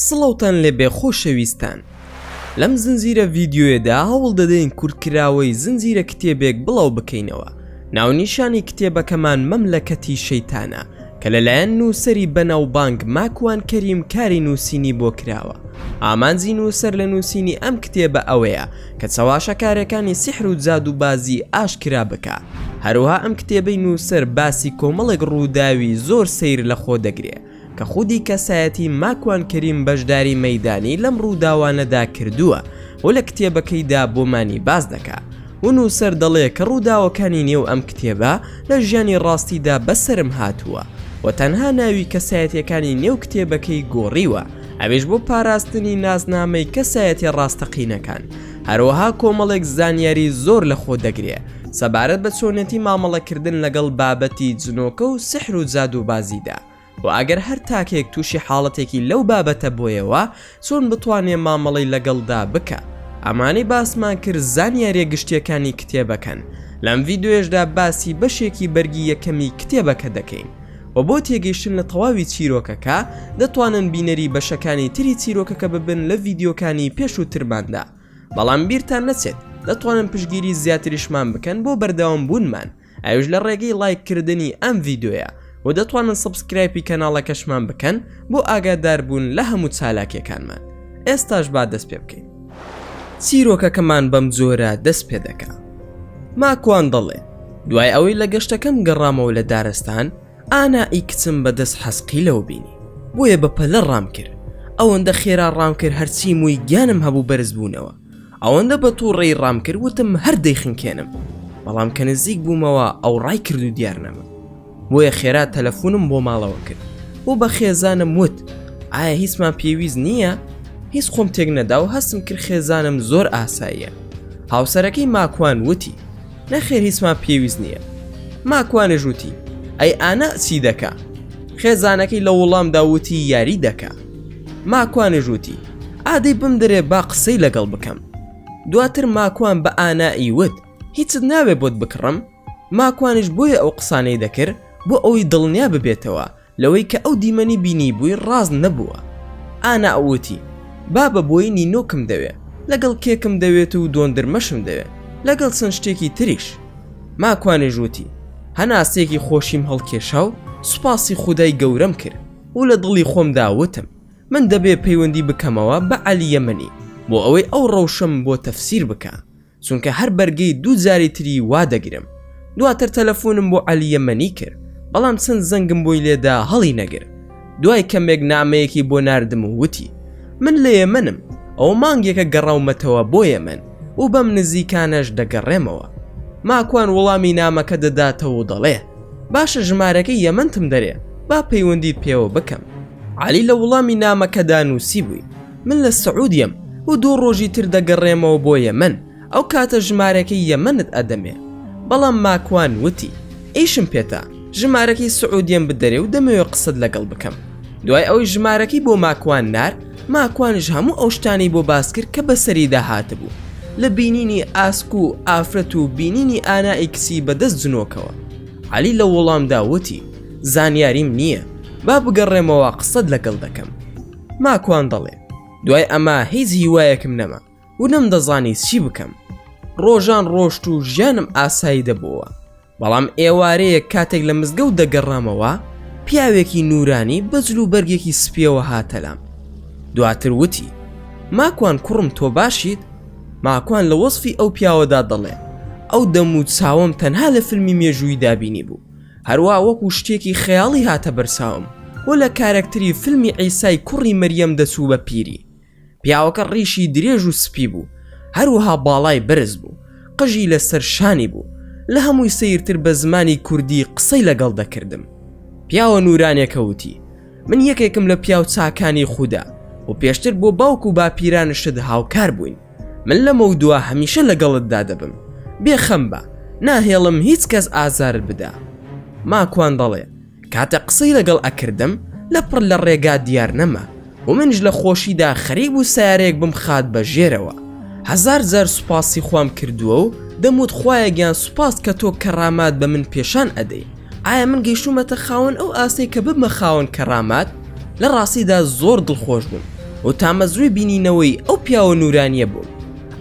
سڵاوتان لێبێ خۆشەویستان لەم زنجیرە ڤیددیوێدا هەوڵ دەدەین کورتکراوەی زنجیرە کتێبێک بڵاو بکەینەوە ناونیشانی کتێبەکەمان مەملەکەتی شەیتانە کە لەلایەن نووسەری بەناوبانگ ماکوان کەریم کاری نووسینی بۆ کراوە، ئامانجی نووسەر لە نووسینی ئەم کتێبە ئەوەیە کە چەواشەکارێکانی سیحر و جادووبازی ئاشکرا بکا، هەروەها ئەم کتێبەی نووسەر باسی کۆمەڵێک ڕووداوی زۆر سەیر لە خۆ دەگرێ کە خودی کەسایەتی ماکوان کەریم بەشداری مەیدانی لەم ڕووداوانەدا کردووە و لە کتێبەکەیدا بۆمانی باس دەکا. و نووسەر دەڵێ کە ڕووداوەکانی نێو ئەم کتێبە لە ژیانی ڕاستیدا بەسەرم هاتووە و تەنها ناوی کەسایەتیەکانی نێو کتێبەکەی گۆڕیوە ئەویش بۆ پاراستنی نازنامەی کەسایەتیە ڕاستەقینەکان هەروەها کۆمەڵێک زانیاری زۆر لە خۆ دەگرێ سەبارەت بە چۆنێتی مامەڵەکردن لەگەڵ بابەتی جنۆکە و سحر و جادووبازیدا. وە ئەگەر هەر تاکێک تووشی حاڵەتێکی لەو بابەتە بۆیەوە چۆن بتوانێ مامەڵەی لەگەڵدا بکا ئەمانەی باسمان کرد زانیاریە گشتیەکانی کتێبەکەن لەم ڤیدۆیەشدا باسی بەشێکی بەرگی یەکەمی کتێبەکە دەکەین و بۆ تێگەیشتن لە تەواوی چیرۆکەکە دەتوانن بینەری بەشەکانی تری چیرۆکەکە ببن لە ڤیدیۆکانی پێشووترماندا بەڵام بیرتان نەچێت دەتوانن پشگیری زیاتریشمان بکەن بۆ بەردەوام بوونمان ئەوش لە ڕێگەی ڵایک کردنی ئەم ڤیدۆیە وە دەتوانن سەبسکرایپی کەناڵەکەشمان بکەن بۆ ئاگاداربوون لە هەموو چالاکیەکانمان ئێستاش با دەست پێ بکەین چیرۆکەکەمان بەم جۆرە دەست پێ دەکا ماکوان دەڵێ دوای ئەوەی لە گەشتەکەم گەڕامەوە لە دارستان ئانا ئی کچم بەدەست حەسقی لەوە بینی بۆیە بە پەلە ڕام کرد ئەوەندە خێرا ڕام کرد هەرچی مووی گیانم هەبوو بەرز بوونەوە ئەوەندە بە توڕەی ڕام کرد وتم هەر دەیخنکێنم بەڵام کە نزیک بوومەوە ئەو ڕای کرد و دیار نەما بۆیە خێرا تەلەفۆنم بۆ ماڵەوە کرد بۆ بە خێزانم وت ئایا هیچمان پێویست نییە هیچ خۆم تێک نەدا و هەستم کرد خێزانم زۆر ئاساییە هاوسەرەکەی ماکوان وتی نەخێر هیچمان پێویست نییە ماکوانێ ژووتی ئەی ئانا چی دەکە خێزانەکەی لە وڵام داوتی یاری دەکە ماکوانیش وتی، ئا دەی بمدەرێ با قسەی لەگەڵ بکەم. دواتر ماکوان بە ئانائی وت، هیچت ناوێ بۆت بکڕم؟ ماکوانیش بۆیە ئەو قسانەی دەکرد بۆ ئەوەی دڵنیا ببێتەوە لەوەی کە ئەو دیمەنی بینیبووی ڕاست نەبووە. ئانا وتی، بابە بۆی نینۆکم دەوێ، لەگەڵ کێکم دەوێت و دۆندرمەشم دەوێ، لەگەڵ چەند شتێکی تریش. ماکوانیش وتی، هەناسەیەکی خۆشیم هەڵکێشا و سوپاسی خودای گەورەم کرد. و لە دڵی خۆمدا وتم من دەبێ پەیوەندی بکەمەوە بە عەلی یەمەنی بۆ ئەوەی ئەو ڕەوشەم بۆ تەفسیر بکا چونکە هەر بەرگەی دوو جاری تری وا دەگرم دواتر تەلەفونم بۆ عەلی یەمەنی کرد بەڵام چەند زەنگم بۆی لێدا هەڵی نەگر دوای کەمێک نامەیەکی بۆ ناردم و وتی من لە یەمەنم ئەو مانگێکە گەڕاومەتەوە بۆ یەمەن و بەم نزیکانەش دەگەڕێمەوە ماکوان وڵامی نامەکە دەداتەوە و دەڵێ باشە ژمارەکەی یەمەنتم دەرێ با پەیوەندیت پێوە بکەم علی لە وڵامی نامەکەدا نووسی بووی من لە سعودیەم و دوو ڕۆژی تر دەگەڕێمەوە بۆ یەمەن ئەو کاتە ژمارەکەی یەمەنت ئەدەمێ بەڵام ماکوان وتی ئیشم پێتا ژمارەکەی سعودیەم بدەرێ و دەمەوێ قسەت لەگەڵ بکەم دوای ئەوەی ژمارەکەی بۆ ماکوان نار ماکوانیش هەموو ئەو شتانەی بۆ باس کرد کە بەسەریدا هاتبوو لە بینینی ئاسک و ئافرەت و بینینی ئانا ئیکسی بە دەست جنۆکەوە عەلی لە ووڵامدا ووتی زانیاریم نییە با بگەڕێمەوە قسەت لەگەڵ دەکەم ماکوان دەڵێ دوای ئەمە هیچ هیوایەکم نەما و نەمدەزانی چی بکەم ڕۆژان ڕۆشت و ژیانم ئاسایی دەبۆوە بەڵام ئێوارەیەک کاتێک لە مزگەوت دەگەڕامەوە پیاوێکی نورانی بەجل و بەرگێکی سپیەوە هاتەلام دواتر وتی ماکوان کوڕم تۆ باشیت ماکوان لە وەصفی ئەو پیاوەدا دەڵێ ئەو دەم و چاوم تەنها لە فیلمی مێژووی دابینی بوو هەروە وەکو شتێکی خەیاڵی هاتە بەرساوم و لە کارەکتری فیلمی عیسای کوڕی مەریەم دەچوو بە پیری پیاوەکە ڕیشی درێژ و سپی بوو هەروها باڵای بەرز بوو قژی لەسەر شانی بوو لە هەمووی سەیرتر بە زمانی کوردی قسەی لەگەڵ دەکردم پیاوە نورانێکە وتی من یەکێکم لە پیاو چاکانی خودا و پێشتر بۆ باوک و باپیرانشت هاوکار بووین من لەمە و دوا هەمیشە لەگەڵتدا دەبم بێخەم بە ناهێڵم هیچ کەس ئازارت بدا ماکوان دەڵێ کاتێ قسەی لەگەڵ ئەکردم لە پڕ لە ڕێگا دیار نەما و منیش لە خۆشیدا خەریک بوو سەیارەیەک بمخات بە ژێرەوە هەزار جار سوپاسی خوام کردووە و دەموت خوایە گیان سوپاس کە تۆ کەڕامات بە من پێشان ئەدەی ئایا من گەیشتوومەتە خاوەن ئەو ئاستەی کە ببمە خاوەن کەڕامات لە ڕاستیدا زۆر دڵخۆش بووم و تامەزروی بینینەوەی ئەو پیاوە نورانیە بووم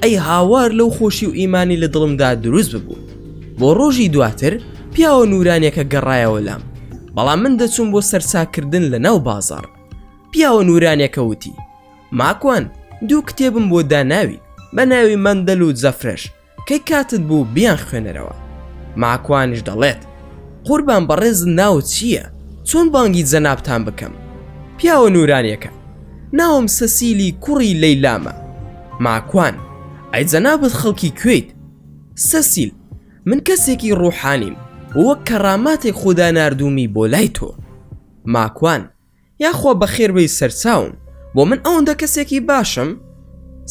ئەی هاوار لەو خۆشی و ئیمانی لە دڵمدا دروست ببوو بۆ ڕۆژی دواتر پیاوە نورانیەکە گەڕایەوە لام بەڵام من دەچوم بۆ سەرچاکردن لە ناو بازار پیاوە نورانیەکە وتی ماکوان دوو کتێبم بۆ داناوی بە ناوی مندەل و جەفرەش کەی کاتت بوو بیان خوێنەرەوە ماکوانش دەڵێت قوربان بەڕێز ناو چییە چۆن بانگی جەنابتان بکەم پیاوە نورانیەکە ناوم سەسیلی کوڕی لەیلامە ماکوان ئەی جەنابت خەڵکی کوێیت سەسیل، من کەسێکی ڕووحانیم و وەک کەڕاماتێک خودا ناردوومی بۆ لای تۆ. ماکوان، یاخوا بەخێربێی سەرچاوم، بۆ من ئەوەندە کەسێکی باشم؟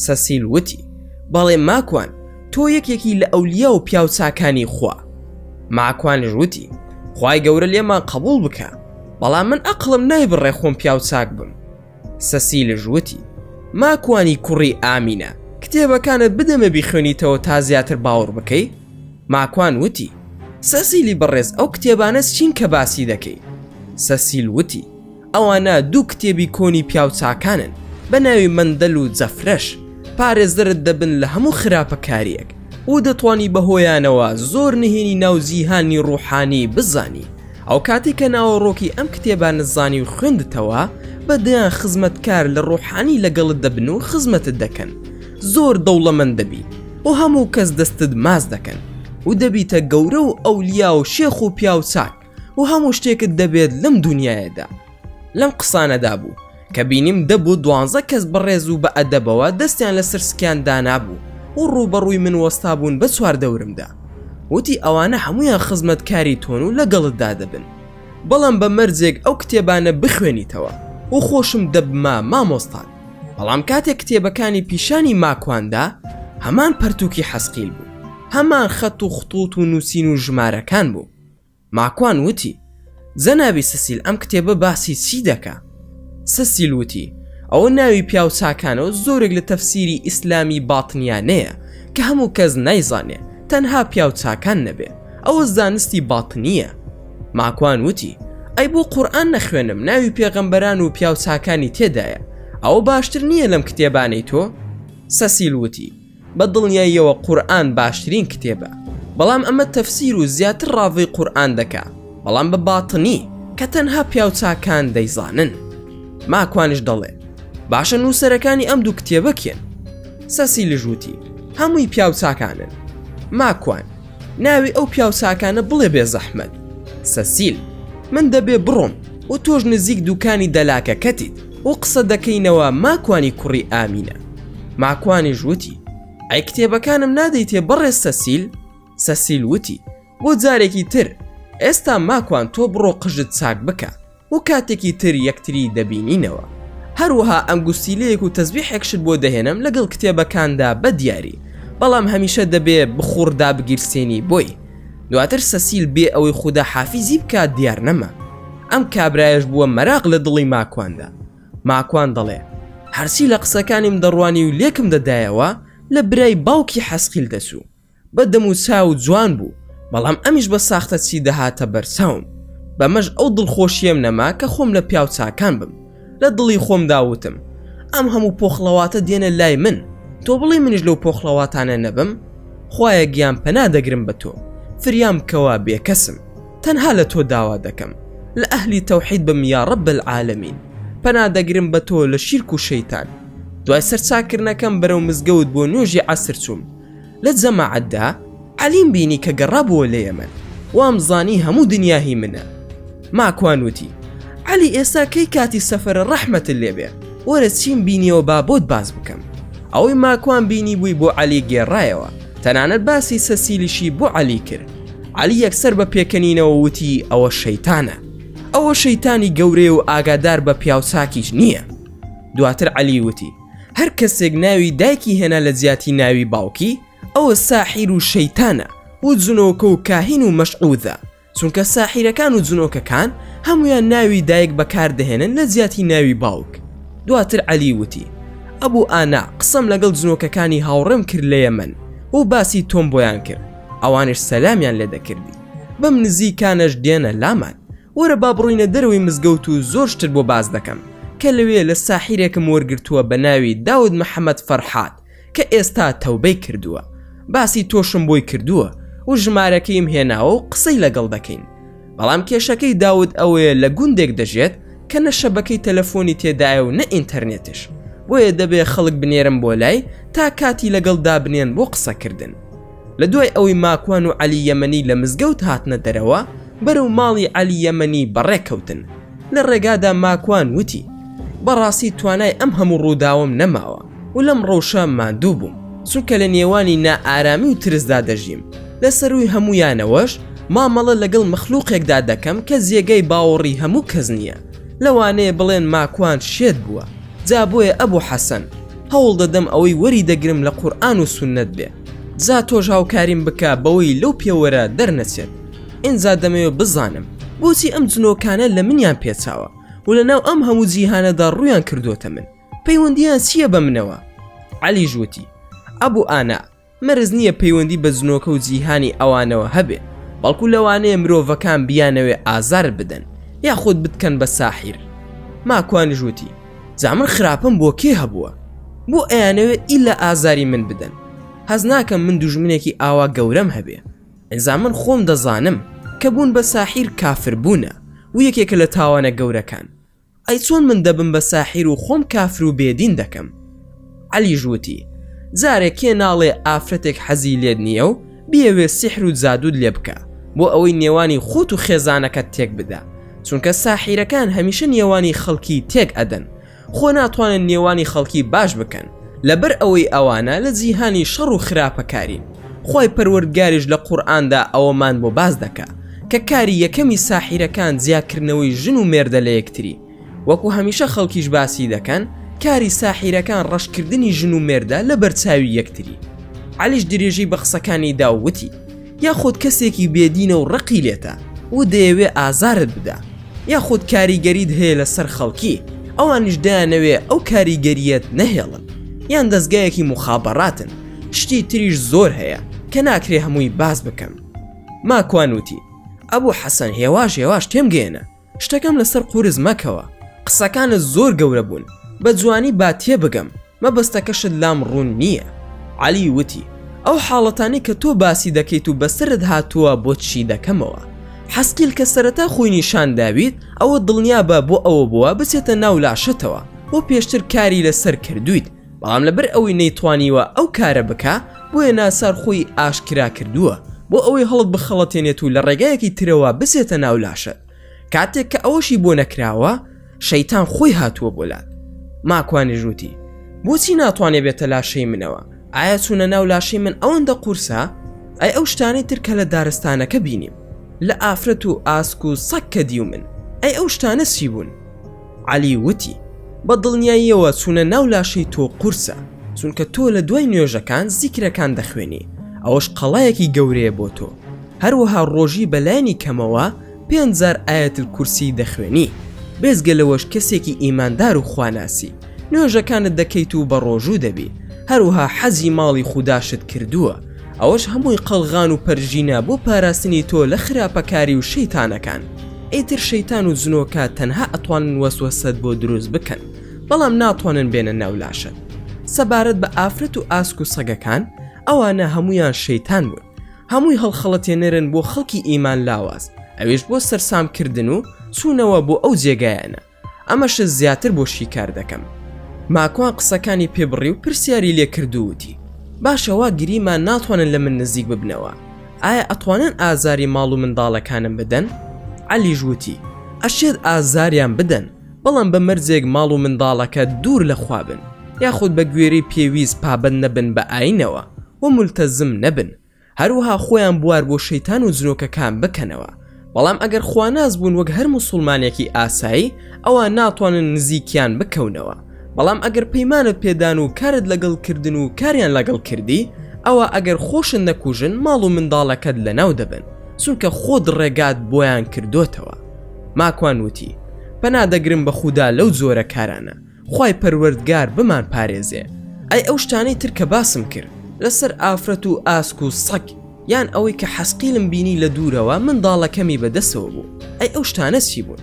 سەسیل وتی، بەڵێ ماکوان، تۆ یەکێکی لە ئەولیا و پیاو چاکانی خوا. ماکوانیش وتی، خوای گەورە لێمان قەبووڵ بکا، بەڵام من ئەقڵم نایبڕێ خۆم پیاو چاک بم. سەسیلش وتی، ماکوانی کوڕی ئامینە، کتێبەکانت بدەمێ بیخوێنیتەوە تا زیاتر باوەڕ بکەی؟ ماکوان وتی، سەسیلی بەڕێز ئەو کتێبانە چین کە باسی دەکەی؟ سەسیل وتی، ئەوانە دوو کتێبی کۆنی پیاوچاکانن بە ناوی مەندەل و جەفرەش، پارێزەرت دەبن لە هەموو خراپەکارییەک و دەتوانی بەهۆیانەوە زۆر نهێنی ناو جیهانی ڕووحانی بزانی. ئەوکاتی کە ناوەڕۆکی ئەم کتێبانەت زانی و خوێندتەوە، بە دەیان خزمەتکار لە ڕۆحانی لەگەڵت دەبن و خزمەتت دەکەن، زۆر دەوڵەمەند دەبی و هەموو کەس دەستت ماچ دەکەن و دەبیتە گەورە و ئەولیا و شێخ و پیاو چاک و هەموو شتێکت دەبێت لەم دونیایەدا. لەم قسانەدا بوو کە بینیم دە بۆ دوانزە کەس بەڕێز و بە ئەدەبەوە دەستیان لە سرسکیان دانابوو و ڕووبەڕووی من وەستا بوون بە چوار دەورمدا وتی ئەوانە هەمویان خزمەت کاری تۆن و لەگەڵت دادەبن بەڵام بە مەرجێک ئەو کتێبانە بخوێنیتەوە و خۆشم دەبما مامۆستان بەڵام کاتێک کتێبەکانی پیشانی ماکواندا هەمان پەرتووکی حەسقیل بوو هەمان خەت و خطوط و نووسین و ژمارەکان بوو ماکوان وتی، جەنابی سسیل ئەم کتێبە باسی چی دەکا؟ سسیل وتی، ئەوە ناوی پیاو چاکانە و زۆرێک لە تەفسیری ئیسلامی باتنیانەیە کە هەموو کەس نایزانێ تەنها پیاو چاکان نەبێ ئەوە زانستی باتنییە. ماکوان وتی، ئەی بۆ قورئان نەخوێنم ناوی پێغەمبەران و پیاو چاکانی تێدایە ئەوە باشتر نییە لەم کتێبانەی تۆ؟ سسیل وتی، بە دڵنیاییەوە قورئان باشترین کتێبە بەڵام ئەمە تەفسیر و زیاتر ڕاڤەی قورئان دەکا بەڵام بە باتنی کە تەنها پیاو چاکان دەیزانن ماکوانش دەڵێ باشە نووسەرەکانی ئەم دوو کتێبە کێن سەسیلش وتی هەمووی پیاو چاکانن ماکوان ناوی ئەو پیاو چاکانە بڵێ بێ زەحمەت سەسیل من دەبێ بڕۆم و تۆش نزیک دووکانی دەلاکەکەتیت و قسە دەکەینەوە ماکوانی کوڕی ئامینە ماکوانیش وتی ئەی کتێبەکانم نادەیتێ بەڕێز سەسیل سەسیل وتی بۆ جارێکی تر ئێستا ماکوان تۆ بڕۆ قژت چاک بکە و کاتێکی تر یەکتری دەبینینەوە هەروەها ئەنگوستیلەیەک و تەزبیحێکشت بۆ دەهێنم لەگەڵ کتێبەکاندا بە دیاری بەڵام هەمیشە دەبێ بخوڕدا بگیرسێنی بۆی دواتر سەسیل بێ ئەوەی خودا حافیزی بکات دیار نەما. ئەم کابرایەش بووە مەراق لە دڵی ماکواندا. ماکوان دەڵێ، هەرچی لە قسەکانیم دەڕوانی و لێکم دەدایەوە، لە برای باوکی حەسقیل دەچوو. بە دەم و چاو جوان بوو، بەڵام ئەمیش بە ساختەچی دەهاتە بەرچاوم. بەمەش ئەو دڵخۆشییەم نەما کە خۆم لە پیاو چاکان بم. لە دڵی خۆمدا وتم، ئەم هەموو پۆخڵەواتە دێنە لای من، تۆ بڵێی منیش لەو پۆخڵەواتانە نەبم؟ خوایە گیان پەنا دەگرم بە تۆ، فریام بکەوە بێکەسم، تەنها لە تۆ داوا دەکەم، لە ئەهلی تەوحید بم یا رب العالمین، پەنا دەگرم بە تۆ لە شیرک و شەیتان. دوای سەرچاکردنەکەم بەرەو مزگەوت بۆ نوێژی عەسر چووم، لە جەماعەتدا عەلیم بینی کە گەڕابووە لە یەمەن وامزانی هەموو دنیا هی منە ماکوان وتی عەلی ئێستا کەی کاتی سەفەرە ڕەحمەت لێبێ وەرە چیم بینیەوە با بۆت باس بکەم ئەوەی ماکوان بینی بووی بۆ عەلی گێڕایەوە تەنانەت باسی سەسیلیشی بۆ عەلی کرد عەلی یەکسەر بە پێکەنینەوە وتی ئەوە شەیتانە ئەوە شەیتانی گەورەیە و ئاگادار بە پیاوچاکیش نییە دواتر عەلی وتی هەر کەسێک ناوی دایکی هێنا لە جیاتی ناوی باوکی ئەوە ساحیر و شەیتانە و جنۆکە و کاهین و مەشعودە چونکە ساحیرەکان و جنۆکەکان هەمویان ناوی دایک بەکاردەهێنن لە جیاتی ناوی باوک دواتر عەلی وتی ئەبوو ئانا قسەم لەگەڵ جنۆکەکانی هاوڕێم کرد لە یەمەن و باسی تۆم بۆیان کرد ئەوانش سەلامیان لێ دەکردی بەم نزیکانەش دێنە لامان وەرە با بڕۆینە دەرەوەی مزگەوت و زۆر شتت بۆ باس دەکەم کە لەوێ لە ساحیرێکم وەرگرتووە بە ناوی داود محەمەد فەرحاد کە ئێستا تەوبەی کردووە باسی تۆشم بۆی کردووە و ژمارەکەیم هێناوە و قسەی لەگەڵ دەکەین بەڵام کێشەکەی داود ئەوەیە لە گوندێک دەژێت کە نە شەبەکەی تەلەفۆنی تێدایە و نە ئینتەرنێتش بۆیە دەبێ خەڵک بنێرم بۆ لای تا کاتی لەگەڵ دابنێن بۆ قسەکردن لە دوای ئەوەی ماکوان و عەلی یەمەنی لە مزگەوت هاتنە دەرەوە بەرەو ماڵی عەلی یەمەنی بەڕێکەوتن لە ڕێگادا ماکوان وتی بەڕاستی توانای ئەم هەموو ڕووداوم نەماوە و لەم ڕەوشە ماندوو بووم چونکە لە نێوانی نائارامی و ترسدا دەژیم لە سەرووی هەموویانەوەش مامەڵە لەگەڵ مەخلوقێکدا دەکەم کە جێگەی باوەڕی هەموو کەس نییە لەوانەیە بڵێن ماکوان شێت بووە جا بۆیە ئەبوو حەسەن هەوڵ دەدەم ئەوەی وەری دەگرم لە قورئان و سوننەت بێ جا تۆش هاوکاریم بکە بەوەی لەو پێوەرە دەرنەچێت ئینجا دەمەوێت بزانم بۆچی ئەم جنۆکانە لە منیان پێچاوە و لە ناو ئەم هەموو جیهانەدا ڕویان کردوتە من پەیوەندیان چییە بە منەوە علی ژووتی ئەبوو ئانا مەرز نییە پەیوەندی بە جنۆکە و جیهانی ئەوانەوە هەبێ بەڵکو لەوانەیە مرۆڤەکان بیانەوێ ئازار بدەن یاخود بتکەن بە ساحیر ماکوان ژووتی جا من خراپم بۆ کێ هەبووە بۆ ئەیانەوێت ئیلا ئازاری من بدەن هەز ناکەم من دوژمنێکی ئاوا گەورەم هەبێ ئەزا من خۆم دەزانم کە بوون بە ساحیر کافر بوونە و یەکێکە لە تاوانە گەورەکان ئەی چۆن من دەبم بە ساحیر و خۆم کافر و بێدین دەکەم عەلیش وتی، جارێ کێ ناڵێ ئافرەتێک حەزی لێت نییە و بیەوێ سیحر و جادووت لێ بکا بۆ ئەوەی نێوانی خۆت و خێزانەکەت تێک بدا، چونکە ساحیرەکان هەمیشە نێوانی خەڵکی تێک ئەدەن، خۆ ناتوانن نێوانی خەڵکی باش بکەن، لەبەر ئەوەی ئەوانە لە جیهانی شەڕ و خراپەکارین، خوای پەروەردگاریش لە قورئاندا ئەوەمان بۆ باس دەکا، کە کاری یەکەمی ساحیرەکان جیاکردنەوەی ژن و مێردە لە یەکتری. وەکو هەمیشە خەڵکیش باسی دەکەن کاری ساحیرەکان ڕەشکردنی ژن و مێردە لە بەرچاوی یەکتری عەلیش درێژەی بە قسەکانی دا و وتی یاخود کەسێکی بێ دینە و ڕقی لێتە و دەیەوێ ئازارت بدا یاخود کاریگەریت هەیە لە سەر خەڵکی ئەوانیش دەیانەوێ ئەو کاریگەریەت نەهێڵن یان دەزگایەکی موخابەڕاتن شتی تریش زۆر هەیە کە ناکرێ هەمووی باس بکەم ماکوان وتی ئەبو حەسەن هێواش هێواش تێم گەیەنە شتەکەم لەسەر قورس مەکەوە قسەکانت زۆر گەورە بوون بە جوانی با تێبگەم مەبەستەکەشت لام ڕوون نییە عەلی وتی ئەو حاڵەتانەی کە تۆ باسی دەکەیت و بەسەرت هاتووە بۆت شی دەکەمەوە حەسکیل کە سەرەتا خۆی نیشان داویت ئەوە دڵنیابە بۆ ئەوە بووە بچێتە ناو لاشەتەوە بۆ پێشتر کاری لەسەر کردوویت بەڵام لەبەر ئەوەی نەیتوانیوە ئەو کارە بکە بۆیە ناسار خۆی ئاشکرا کردووە بۆ ئەوەی هەڵت بخەڵەتێنێت و لە ڕێگایەکی ترەوە بسێتە ناو لاشت کاتێک کە ئەوەشی بۆ نەکراوە شەیتان خۆی هاتووە بۆ لات ماکوانی ژووتی بۆچی ناتوانێ بێتە لاشەی منەوە ئایا چوونە ناو لاشەی من ئەوەندە قورسە ئەی ئەو شتانەی ترکە لە دارستانەکە بینیم لە ئافرەت و ئاسک و سەک کە دیو من ئەی ئەو شتانە چی بوون عەلی وتی، بە دڵنیاییەوە چوونە ناو لاشەی تۆ قورسە، چونکە تۆ لە دوای نوێژەکان زیکرەکان دەخوێنی، ئەوەش قەڵایەکی گەورەیە بۆ تۆ، هەروەها ڕۆژی بە لایەنی کەمەوە پێنج جار ئایەت الکورسیی دەخوێنی، بێجگە لەوەش کەسێکی ئیماندار و خواناسی، نوێژەکانت دەکەیت و بەڕۆژوو دەبی، هەروەها حەجی ماڵی خوداشت کردووە، ئەوەش هەمووی قەڵغان و پەرژینە بۆ پاراستنی تۆ لە خراپەکاری و شەیتانەکان ئیتر شەیتان و جنۆکە تەنها ئەتوانن وەسوەسەت بۆ دروست بکەن بەڵام ناتوانن بێنە ناو لاشت سەبارەت بە ئافرەت و ئاسک و سەگەکان ئەوانە هەموویان شەیتان بوون هەمووی هەڵخەڵەتێنەرن بۆ خەڵکی ئیمان لاواز ئەویش بۆ سەرسام کردن و چوونەوە بۆ ئەو جێگایانە ئەمەشت زیاتر بۆ شیکار دەکەم ماکوان قسەکانی پێبڕی و پرسیاری لێ کردووتی باشەوا گریمان ناتوانن لە من نزیک ببنەوە ئایا ئەتوانن ئازاری ماڵ و منداڵەکانم بدەن علی ژووتی ئەشێت ئازاریان بدەن بەڵام بە مەرجێک ماڵ و منداڵەکە دوور لە خوابن یاخود بە گوێری پێویست پابند نەبن بە ئاینەوە و ملتەزم نەبن هەروەها خۆیان بوار بۆ شەیتان و جنۆکەکان بکەنەوە، بەڵام ئەگەر خواناس بوون وەک هەر موسوڵمانێکی ئاسایی ئەوا ناتوانن نزیکیان بکەونەوە، بەڵام ئەگەر پەیمانت پێدان و کارت لەگەڵ کردن و کاریان لەگەڵ کردی ئەوا ئەگەر خۆشت نەکوژن ماڵ و منداڵەکەت لەناو دەبەن چونکە خۆت ڕێگات بۆیان کردۆتەوە ماکوان وتی پەنا دەگرم بە خودا لەو جۆرە کارانە خوای پەروەردگار بمان پارێزێ ئەی ئەو شتانەی تر کە باسم کرد لەسەر ئافرەت و ئاسک و سەگ یان ئەوەی کە حەسقیلم بینی لە دوورەوە منداڵەکەمی بە دەسەوە بوو ئەی ئەو شتانە چی بوون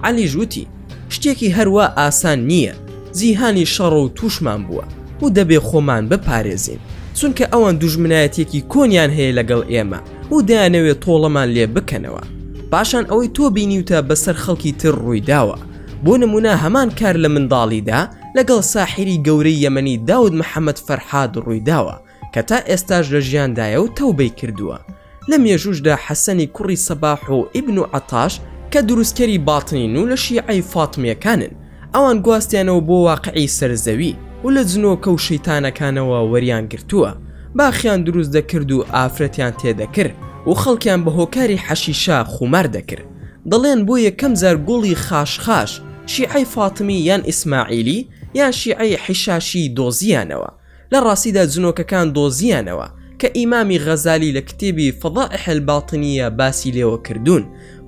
عەلیش وتی شتێکی هەروا ئاسان نییە جیهانی شەڕە و تووشمان بووە و دەبێ خۆمان بپارێزین چونکە ئەوان دوژمنایەتێکی کۆنیان هەیە لەگەڵ ئێمە و دەیانەوێت تۆڵەمان لێ بکەنەوە پاشان ئەوەی تۆ بینیوتە بەسەر خەڵکی تر ڕوویداوە بۆ نمونە هەمان کار لە منداڵیدا لەگەڵ ساحیری گەورەی یەمەنی داود محەمەد فەرهاد ڕوویداوە کە تا ئێستاش لە ژیاندایە و تەوبەی کردووە. لە مێژووشدا حەسەنی کوڕی سەباح و ئیبن عەتاش کە دروستکەری باتنین و لە شیعەی فاتمییەکانن ئەوان گواستیانەوە بۆ واقعی سەر زەوی و لە جنۆکە و شەیتانەکانەوە وەریان گرتووە باخیان دروست دەکرد و ئافرەتیان تێدەکر و خەڵکیان بە هۆکاری حەشیشە خومار دەکر. دەڵێن بۆ یەکەم جار گوڵی خاشخاش شیعەی فاتمی یان ئیسماعیلی یان شیعەی حیشاشی دۆزییانەوە، لە ڕاستیدا جنۆکەکان دۆزییانەوە، کە ئیمامی غەزالی لە کتێبی فضائح الباطنیە باسی لێوە کردوون،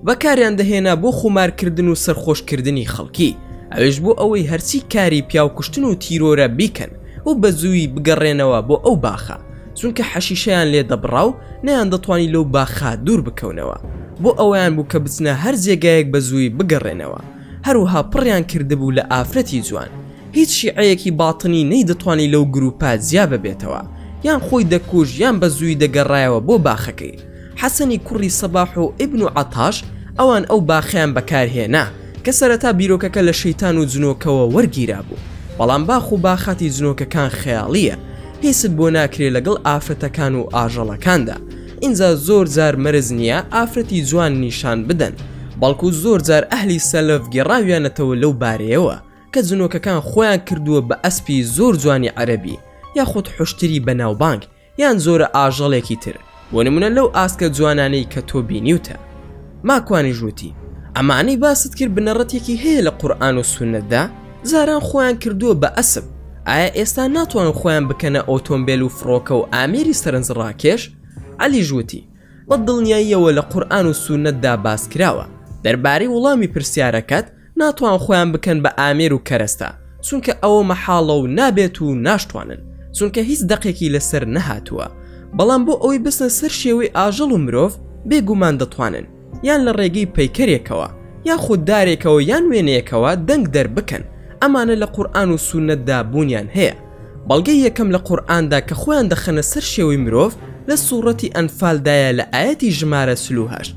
بەکاریان دەهێنا بۆ خومارکردن و سەرخۆشکردنی خەڵکی، ئەوێش بۆ ئەوەی هەرچی کاری پیاوکوشتن و تیرۆرە بیکەن و بەزووی بگەڕێنەوە بۆ ئەو باخە، چونکە حەشیشەیان لێ دەبڕا و نەیان دەتوانی لەو باخا دوور بکەونەوە بۆ ئەوەیان بوو کە بچنە هەر جێگایەک بە زووی بگەڕێنەوە هەروها پڕیان کردبوو لە ئافرەتی جوان هیچ شیعەیەکی باتنی نەی دەتوانی لەو گروپە جیا ببێتەوە یان خۆی دەکوژ یان بە زووی دەگەڕایەوە بۆ باخەکەی حەسەنی کوڕی سەباح و ئیبن و عەتاش ئەوان ئەو باخیان بەکارهێنا کە سەرەتا بیرۆکەکە لە شەیتان و جنۆکەوە وەرگیرا بوو بەڵام باخ و باخاتی جنۆکەکان خەیاڵیە پیست بۆ ناکرێ لەگەڵ ئافرەتەکان و ئاژەڵەکاندا ئینجا زۆر جار مەرج نییە ئافرەتی جوان نیشان بدەن بەڵکو زۆر جار ئەهلی سەلەف گێڕاویانەتەوە لەو بارەیەوە کە جنۆکەکان خۆیان کردووە بە ئەسپی زۆر جوانی عەرەبی یاخود حوشتری بەناوبانگ یان جۆرە ئاژەڵێکی تر بۆ نمونە لەو ئاسکە جوانانەی کە تۆ بینیوتە ماکوانی ژووتی ئەمانەی باست کرد بنەڕەتێکی هەیە لە قورآن و سونەتدا جاران خۆیان کردووە بە ئەسپ ئایا ئێستا ناتوان خۆیان بکەنە ئۆتۆمبێل و فڕۆکە و ئامێری سەرنج ڕاکێش عەلی ژووتی بە دڵنیاییەوە لە قورآن و سونەتدا باس کراوە دەربارەی وڵامی پرسیارەکەت ناتوان خۆیان بکەن بە ئامێر و کەرەستە چونکە ئەوە مەحاڵە و نابێت و ناشتوانن چونکە هیچ دەقێکی لەسەر نەهاتووە بەڵام بۆ ئەوەی بچنە سەر شێوەی ئاژەڵ و مرۆڤ بێگومان دەتوانن یان لە ڕێگەی پەیکەرێکەوە یان خوددارێکەوە یان وێنەیەکەوە دەنگ دەربکەن ئەمانە لە قورئان و سونەتدا بوونیان هەیە بەڵگەی یەکەم لە قورئاندا کە خۆیان دەخەنە سەر شێوەی مرۆڤ لە سوڕەتی ئەنفالدایە لە ئایەتی ژمارە چل و هەشت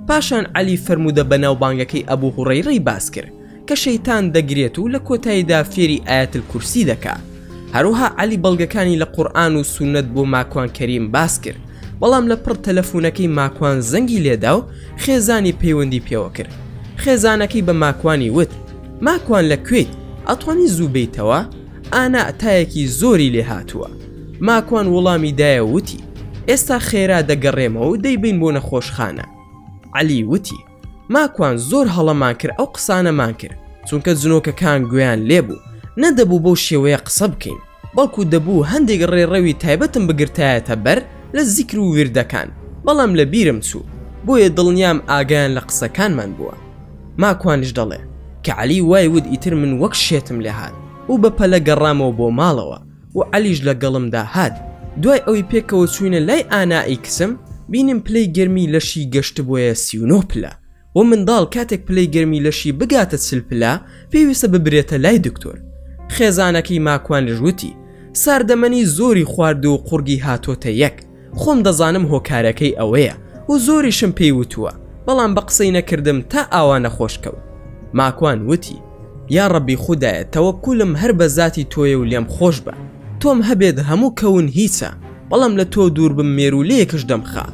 پاشان عەلی فەرموودە بەناوبانگەکەی ئەبو هوڕەیرەی باس کرد کە شەیتان دەگرێت و لە کۆتاییدا فێری ئایەت الکورسی دەکا هەروها عەلی بەڵگەکانی لە قورئان و سونەت بۆ ماکوان کەریم باس کرد بەڵام لە پڕ تەلەفونەکەی ماکوان زەنگی لێدا و خێزانی پەیوەندی پێوە کرد خێزانەکەی بە ماکوانی وت ماکوان لە کوێیت ئەتوانی زوو بیتەوە ئانا تایەکی زۆری لێ هاتووە. ماکوان وڵامی دایە و وتی، ئێستا خێرا دەگەڕێمەوە و دەیبەین بۆ نەخۆشخانە. عەلی وتی، ماکوان زۆر هەڵەمان کرد ئەو قسانەمان کرد، چونکە جنۆکەکان گوێیان لێ بوو، نەدەبوو بەو شێوەیە قسە بکەین، بەڵکو دەبوو هەندێک ڕێڕەوی تایبەتم بگرتایەتە بەر لە زیکر و ویردەکان، بەڵام لەبیرم چوو، بۆیە دڵنیام ئاگایان لە قسەکانمان بووە. ماکوانیش دەڵێ کە عەلی وای وت ئیتر من وەک شێتم لێ هات و بە پەلە گەڕامەوە بۆ ماڵەوە و عەلیش لە گەڵمدا هات دوای ئەوەی پێکەوە چووینە لای ئانائی کچم بینیم پلەی گەرمی لەشی گەشتبوویە سی و نۆ پلە و منداڵ کاتێک پلەی گەرمی لەشی بگاتە چل پلە پێویستە ببرێتە لای دکتۆر خێزانەکەی ماکوانیش وتی ساردەمەنی زۆری خواردووە و قوڕگی هاتۆتە یەک خۆم دەزانم هۆکارەکەی ئەوەیە و زۆریشم پێی وتووە بەڵام بە قسەی نەکردم تا ئاوا نەخۆش کەوت ماکوان وتی یا ڕەبی خودایە تەوەکولم هەر بە زاتی تۆیە و لێم خۆش بە تۆم هەبێت هەموو کەون هیچە بەڵام لە تۆ دوور بم مێروولەیەکش دەمخا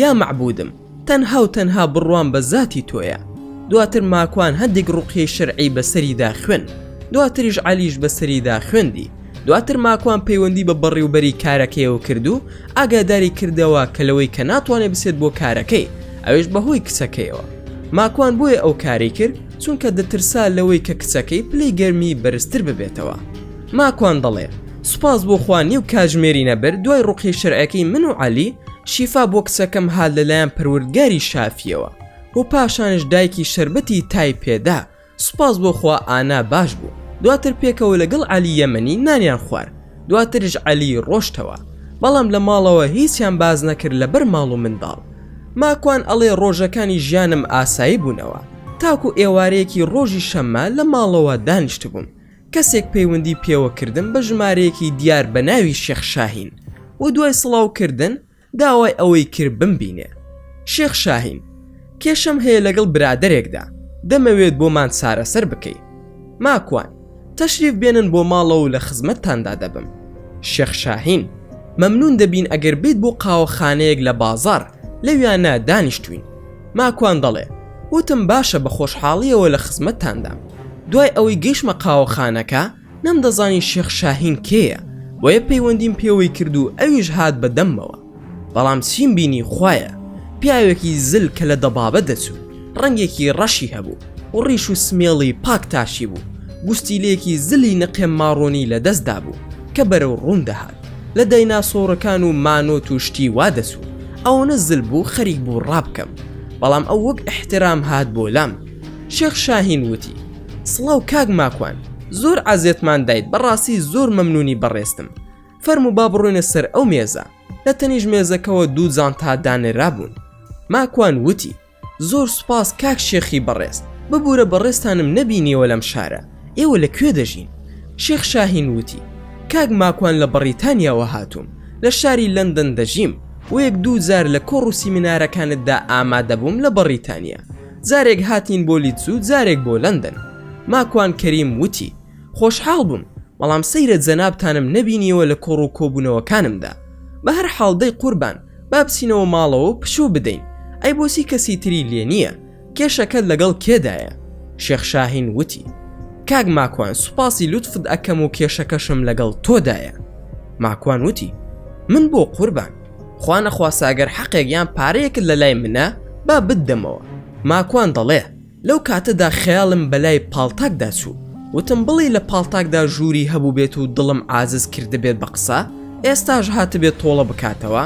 یا مەعبودم تەنها و تەنها بڕوام بە زاتی تۆیە دواتر ماکوان هەندێک ڕوقیەی شەرعی بەسەریدا خوێند دواتریش عەلیش بەسەریدا خوێندی دواتر ماکوان پەیوەندی بە بەڕیوبەری کارەکەیەوە کردو ئاگاداری کردەوە کە لەوەی کە ناتوانێ بسێت بۆ کارەکەی ئەوێش بەهۆی کچەکەیەوە ماکوان بۆیە ئەو کارەی کرد چونکە دەترسا لەوەی کە کچەکەی پلەی گەرمی بەرزتر ببێتەوە ماکوان دەڵێ سوپاس بۆ خوا نیو کاژمێری نەبرد دوای ڕوقیەی شەرعیەکەی من و عەلی شیفا بۆ کچەکەم هات لەلایەن پەروردگاری شافیەوە و پاشانش دایکی شەربەتی تای پێدا سوپاس بۆ خوا ئانا باش بوو دواتر پێکەوە لەگەڵ عەلی یەمەنی نانیان خوارد دواترش عەلی ڕۆشتەوە بەڵام لە ماڵەوە هیچیان باس نەکرد لەبەر ماڵ و منداڵ ماکوان ئەڵێ ڕۆژەکانی ژیانم ئاسایی بوونەوە تاکو ئێوارەیەکی ڕۆژی شەممە لە ماڵەوە دانیشتبووم کەسێک پەیوەندی پێوە کردم بە ژمارەیەکی دیار بە ناوی شێخ شاهین و دوای سڵاو کردن داوای ئەوەی کرد بمبینێ شێخ شاهین کێشەم هەیە لەگەڵ برادەرێکدا دەمەوێت بۆمان چارەسەر بکەی ماکوان تەشریف بێنن بۆ ماڵەوە و لە خزمەتتاندا دەبم شێخ شاهین مەمنون دەبین ئەگەر بیت بۆ قاوەخانەیەک لە بازار لەویانا دانیشتووین. ماکوان دەڵێ، وتم باشە بە خۆشحاڵییەوە لە خزمەتتاندام. دوای ئەوەی گەیشتمە قاوەخانەکە، نەمدەزانی شێخ شاهین کێیە، بۆیە پەیوەندیم پێوەی کرد و ئەویش هات بە دەممەوە. بەڵام چیم بینی خوایە! پیاوێکی زل کە لە دەبابە دەچوو، ڕەنگێکی ڕەشی هەبوو و ڕیش و سمێڵی پاک تاشیبوو، گوستیلەیەکی زلی نقێ ماڕۆنی لە دەستدا بوو کە بەرەو ڕووم دەهات. لە دایناسۆڕەکان و مانۆت و شتی وا دەچوو ئەوەنە زل بوو خەریک بوو ڕابکەم بەڵام ئەو وەک ئیحترام هات بۆ لام شێخ شاهین وتی سڵاو کاک ماکوان زۆر عەزێتمان دایت بەڕاستی زۆر مەمنونی بەڕێزتم فەرموو با بڕۆینە سەر ئەو مێزە لە تەنیشت مێزەکەوە دوو جانتا دانرابوون ماکوان وتی زۆر سوپاس کاک شێخی بەڕێز ببورە بەڕێزتانم نەبینیەوە لەم شارە ئێوە لە کوێ دەژین شێخ شاهین وتی کاک ماکوان لە بەڕیتانیاوە هاتووم لە شاری لەندەن دەژیم وەیەک دوو جار لە کۆڕ و سیمینارەکانتدا ئامادەبووم لە بەڕیتانیا جارێک هاتین بۆ لیدز و جارێک بۆ لەندەن ماکوان کەریم وتی خۆشحاڵ بووم بەڵام سەیرە جەنابتانم نەبینیەوە لە کۆڕ و کۆبوونەوەکانمدا بە هەر حاڵ دەی قوربان با بچینەوە ماڵەوە و پشوو بدەین ئەی بۆچی کەسی تری لێ نییە کێشەکەت لەگەڵ کێدایە شێخ شاهین وتی کاک ماکوان سوپاسی لوتفت ئەکەم و کێشەکەشم لەگەڵ تۆدایە ماکوان وتی من بۆ قوربان خوا نەخواستە ئەگەر حەقێک یان پارەیەکت لە لای منە با بتدەمەوە ماکوان دەڵێ لەو کاتەدا خەیاڵم بەلای پاڵتاکدا چوو، وتم بڵی لە پاڵتاکدا ژووری هەبووبێت و دڵم عازز کردبێت بە قسە، ئێستاش هاتبێت تۆڵە بکاتەوە؟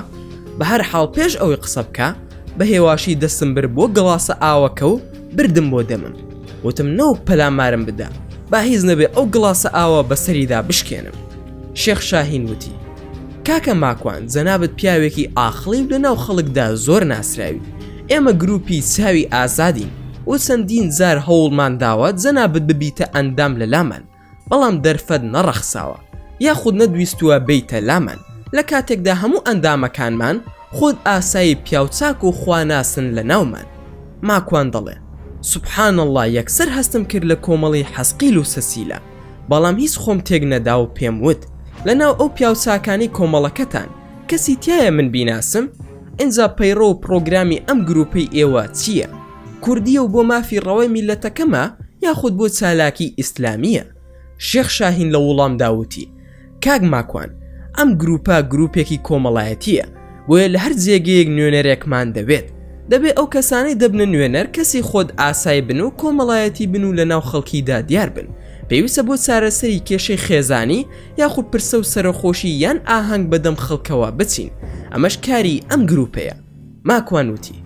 بە هەر حاڵ پێش ئەوەی قسە بکا، بە هێواشی دەستم برد بۆ گڵاسە ئاوەکە و بردم بۆ دەمم. وتم نەوک پەلامارم بدە، با هیچ نەبێ ئەو گڵاسە ئاوە بە سەریدا بشکێنم. شێخ شاهین وتی، کاکە ماکوان، جەنابت پیاوێکی عاقڵی و لە ناو خەڵکدا زۆر ناسراوی. ئێمە گروپی چاوی ئازادین و چەندین جار هەوڵمان داوە جەنابت ببیتە ئەندام لە لامان بەڵام دەرفەت نەڕەخساوە یاخود نەدویستووە بێیتە لامان لە کاتێکدا هەموو ئەندامەکانمان خود ئاسایی پیاوچاک و خواناسن لە ناومان ماکوان دەڵێ سبحان اللە یەکسەر هەستم کرد لە کۆمەڵی حەسقیل و سەسیلە بەڵام هیچ خۆم تێک نەدا و پێم وت لە ناو ئەو پیاوچاکانەی کۆمەڵەکەتان کەسی تایە من بیناسم؟ ئینجا پەیڕە و پڕۆگرامی ئەم گروپەی ئێوە چییە؟ کوردیە و بۆ مافی ڕەوای میلەتەکەمە یاخود بۆ چالاکی ئیسلامییە؟ شێخ شاهین لە ووڵامدا ووتی، کاک ماکوان ئەم گروپە گروپێکی کۆمەڵایەتییە بۆیە لە هەر جێگەیەک نوێنەرێکمان دەوێت دەبێ ئەو کەسانەی دەبنە نوێنەر کەسی خۆد ئاسای بن و کۆمەڵایەتی بن و لەناو خەڵکیدا دیار بن پێویستە بۆ چارەسەری کێشەی خێزانی یاخو پرسە و سەرەخۆشی یان ئاهەنگ بە دەم خەڵکەوە بچین ئەمەش کاری ئەم گروپەیە ماکوان وتی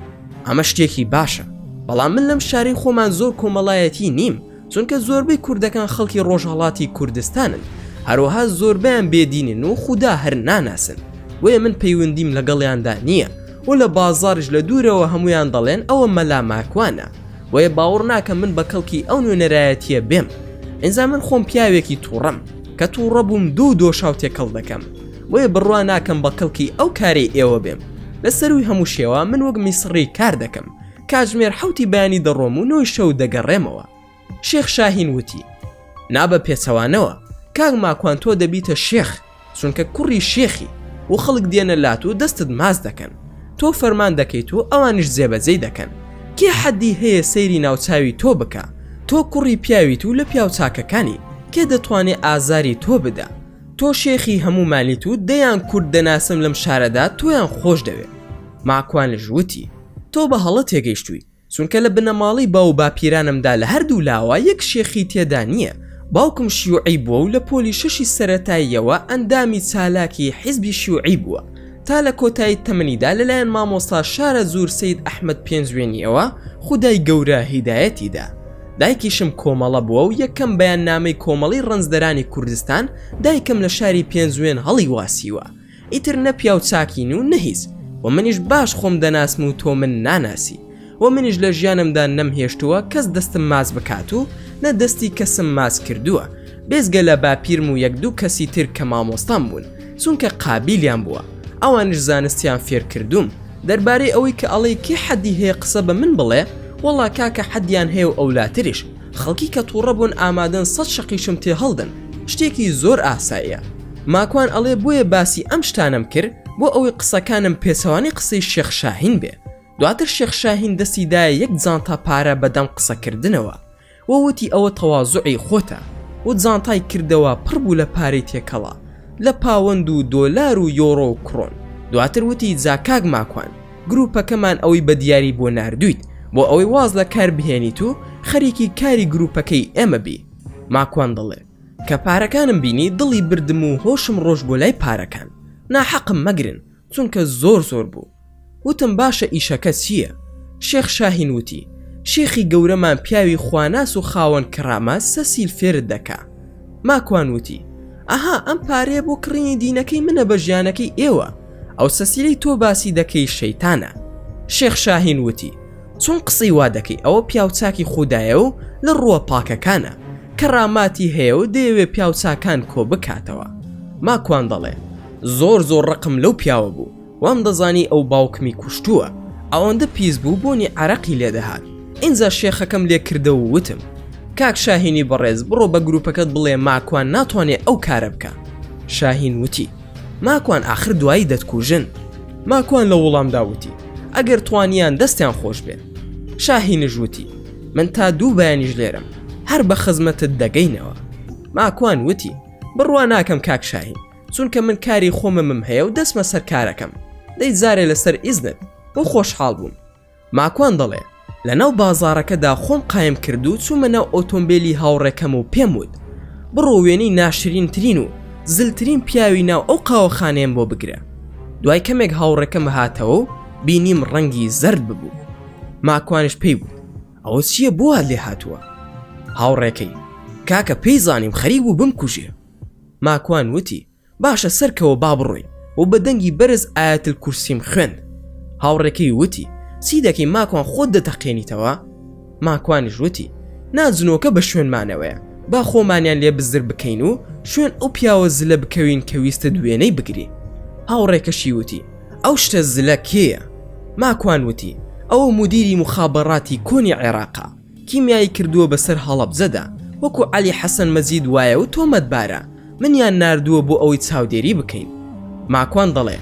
ئەمە شتێکی باشە بەڵام من لەم شارەی خۆمان زۆر کۆمەڵایەتی نیم چونکە زۆربەی کوردەکان خەڵکی ڕۆژهەڵاتی کوردستانن هەروەها زۆربیان بێدینن و خودا هەر ناناسن بۆیە من پەیوەندیم لەگەڵیاندا نییە و لە بازاڕش لە دوورەوە هەمویان دەڵێن ئەوە مەلا ماکوانە بۆیە باوەڕ ناکەم من بە کەڵکی ئەو نوێنەرایەتیە بێم ئینجا من خۆم پیاوێکی تووڕەم کە توڕە بووم دوو دۆشاو تێکەڵ دەکەم بۆیە بڕوا ناکەم بە کەڵکی ئەو کارەی ئێوە بێم لە سەرووی هەموو شێوە من وەک میسڕی کار دەکەم کاتژمێر حوتی بەیانی دەڕۆم و نۆی شەو دەگەڕێمەوە شێخ شاهین وتی نابە پێچەوانەوە کاک ماکوان تۆ دەبیتە شێخ چونکە کوڕی شێخی و خەڵک دێنە لات و دەستت ماز دەکەن تۆ فەرمان دەکەیت و ئەوانش جێبەجێی دەکەن کێ حەدی هەیە سەیری ناوچوی تۆ بکە تۆ کوڕی پیاویت و لە پیاو چاکەکانی کێ دەتوانێ ئازاری تۆ بدا تۆ شێخی هەموو مالیت و دەیان کورد دەناسم لەم شارەدا تۆیان خۆش دەوێ ماکوانش وتی تۆ بە هەڵە تێگەیشتووی چونکە لە بنەماڵەی باو باپیرانمدا لە هەردوو لاوە یەک شێخی تێدا نییە باوکم شیوعی بووە و لە پۆلی شەشی سەرەتاییەوە ئەندامی چالاکی حیزبی شیوعی بووە تا لە کۆتایی تەمەنیدا لەلایەن مامۆستا شارە زور سید ئەحمد پێنجوێنیەوە خودای گەورە هیدایەتی دا دایکیشم کۆمەڵە بووە و یەکەم بەیان نامەی کۆمەڵی ڕەنجدەرانی کوردستان دایکم لە شاری پێنجوێن هەڵی واسیوە ئیتر نە پیاو چاکین و نەهیز و منیش باش خۆم دەناسم و تۆ من ناناسی و منیش لە ژیانمدا نەم هێشتووە کەس دەستم ماچ بکات و نە دەستی کەسم ماچ کردووە بێزگە لە باپیرم و یەک دوو کەسی تر کە مامۆستام بوون چونکە قابیلیان بووە ئەوانش زانستیان فێرکردووم دەربارەی ئەوەی کە ئەڵێی کێ حەدی هەیە قسە بە من بڵێ وەڵا کاکە حەدیان هەیە و ئەولاتریش خەڵکی کە تووڕە بوون ئامادەن سەد شەقیشم تێ هەڵدەن شتێکی زۆر ئاساییە ماکوان ئەڵێ بۆیە باسی ئەم شتانەم کرد بۆ ئەوەی قسەکانم پێچەوانەی قسەی شێخ شاهین بێ دواتر شێخ شاهین دەستی دایە یەک جانتا پارە بەدەم قسە کردنەوە و وتی ئەوە تەوازوعی خۆتە و جانتای کردەوە پڕ بوو لە پارەی تێکەڵە لە پاوەند و دۆلار و یۆڕۆ و کڕۆن دواتر وتی جا کاک ماکوان گروپەکەمان ئەوەی بە دیاری بۆ ناردویت بۆ ئەوەی واز لە کار بهێنیت و خەریکی کاری گروپەکەی ئێمە بی ماکوان دەڵێ کە پارەکانم بینی دڵی بردم و هۆشم ڕۆشت بۆ لای پارەکان ناحەقم مەگرن چونکە زۆر زۆر بوو. وتم باشە ئیشەکە چییە؟ شێخ شاهین وتی، شێخی گەورەمان پیاوی خواناس و خاوەن کەرامە سەسیل فێرت دەکا. ماکوان وتی، ئەها ئەم پارەیە بۆ کڕینی دینەکەی منە بە ژیانەکەی ئێوە، ئەو سەسیلەی تۆ باسی دەکەی شەیتانە. شێخ شاهین وتی، چۆن قسەی وا دەکەی ئەوە پیاوچاکی خودایە و لە ڕووە پاکەکانە، کەراماتی هەیە و دەیەوێ پیاوچاکان کۆ بکاتەوە. ماکوان دەڵێ، زۆر زۆر ڕقم لەو پیاوە بوو، وام دەزانی ئەو باوکمی کوشتووە ئەوەندە پیس بوو بۆنی عەرەقی لێ دەهات ئینجا شێخەکەم لێ کردە و وتم کاک شاهینی بەڕێز بڕۆ بە گروپەکەت بڵێ ماکوان ناتوانێ ئەو کارە بکا شاهین وتی ماکوان ئاخر دوایی دەتکوژن ماکوان لە وڵامدا وتی ئەگەر توانیان دەستیان خۆش بێ شاهینش وتی من تا دوو بەیانیش لێرەم هەر بە خزمەتت دەگەینەوە ماکوان وتی بڕوا ناکەم کاک شاهین چونکە من کاری خۆممم هەیە و دەسمە سەر کارەکەم دەی جارێ لەسەر ئیزنت بۆ خۆشحاڵ بووم ماکوان دەڵێ لە ناو بازارەکەدا خۆم قایم کرد و چوومە ناو ئۆتۆمبیلی هاوڕێکەم و پێم وت بڕۆ وێنی ناشرین ترین و زلترین پیاوی ناو ئەو قاوەخانەیەم بۆ بگرە دوای کەمێک هاوڕێکەم هاتەوە و بینیم ڕەنگی زرد ببوو ماکوانش پێی بوو ئەوە چییە بووە لێ هاتووە هاوڕێکەی کاکە پێی زانیم خەریک بوو بم کوژێ ماکوان وتی، باشە سەرکەوە با بڕۆین و بە دەنگی بەرز ئایەت الکورسیم خوێند. هاوڕێکەی وتی، چی دەکەی ماکوان خۆت دەتەقێنیتەوە؟ ماکوانیش وتی، نا جنۆکە بە شوێنمانەوەیە با خۆمانیان لێ بزر بکەین و شوێن ئەو پیاوە زلە بکەوین کە ویستت وێنەی بگری. هاوڕێکەشی وتی، ئەو شتە زلە کێیە؟ ماکوان وتی، ئەوە مودیری موخابەڕاتی کۆنی عێراقە. کیمیایی کردووە بەسەر هەڵەبجەدا وەکو عەلی حەسەن مەجید وایە و تۆمەتبارە، منیان ناردووە بۆ ئەوەی چاودێری بکەین. ماکوان دەڵێ،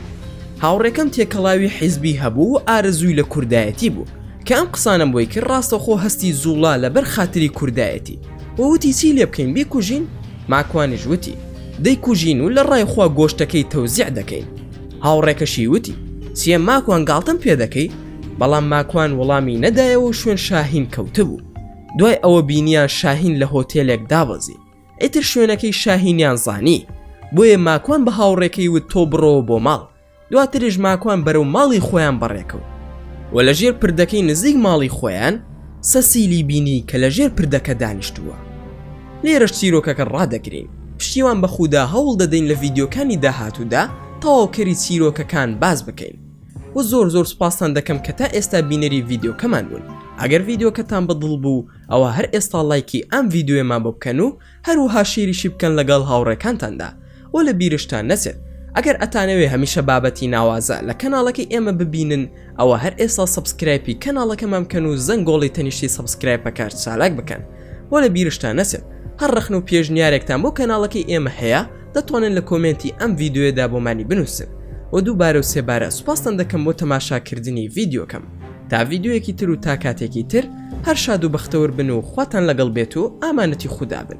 هاوڕێکەم تێکەڵاوی حیزبی هەبوو و ئارەزووی لە کوردایەتی بوو، کە ئەم قسانەم بۆی کرد ڕاستەوخۆ هەستی جووڵا لەبەر خاتری کوردایەتی و وتی چی لێ بکەین بیکوژین؟ ماکوانیش وتی، دەیکوژین و لە ڕای خوا گۆشتەکەی تەوزیع دەکەین. هاوڕێکەشی وتی، چییە ماکوان گاڵتەم پێ دەکەی؟ بەڵام ماکوان وڵامی نەدایەوە شوێن شاهین کەوتبوو دوای ئەوە بینیان شاهین لە هۆتێلێک دابەزی ئیتر شوێنەکەی شاهینیان زانی بۆیە ماکوان بە هاوڕێکەی وت تۆ بڕۆوە بۆ ماڵ دواتریش ماکوان بەرەو ماڵی خۆیان بەڕێکەوت و لە ژێر پردەکەی نزیک ماڵی خۆیان سەسیلی بینی کە لە ژێر پردەکە دانیشتووە لێرەش چیرۆکەکە ڕادەگرین پشتیوان بە خودا هەوڵ دەدەین لە ڤیددیوکانی داهاتوودا تەواوکەری چیرۆکەکان باز بکەین و زۆر زۆر سپاستان دەکەم کە تا ئێستا بینەری ڤیددیوکەمان بوون ئەگەر ڤیددیوکەتان بەدڵ بوو ئەوە هەر ئێستا لایکی ئەم ڤیددیوێمان بۆ بکەن و هەروها شیریشی بکەن لەگەڵ هاوڕێکانتاندا و لە بیرشتان نەچێت ئەگەر ئەتانەوێ هەمیشە بابەتی ناوازە لە کەناڵەکەی ئێمە ببینن ئەوە هەر ئێستا سبسکرایپی کەناڵەکەمان بکەن و زەنگۆڵی تەنیشتی سبسکرایپەکار چالاک بکەن و لە بیرشتان نەچێت هەر ڕخن و پێشنیارێکتان بۆ کەناڵەکەی ئێمە هەیە دەتوانن لە کۆمێنتی ئەم ڤیدیۆیەدا بۆمانی بنووسن و دووبارە و سێبارە سوپاستان دەکەم بۆ تەماشاکردنی ڤیدیۆکەم تا ڤیدیۆیەکی تر و تا کاتێکی تر هەر شاد و بەختەور بن و خواتان لەگەڵ بێت و ئامانەتی خودا بن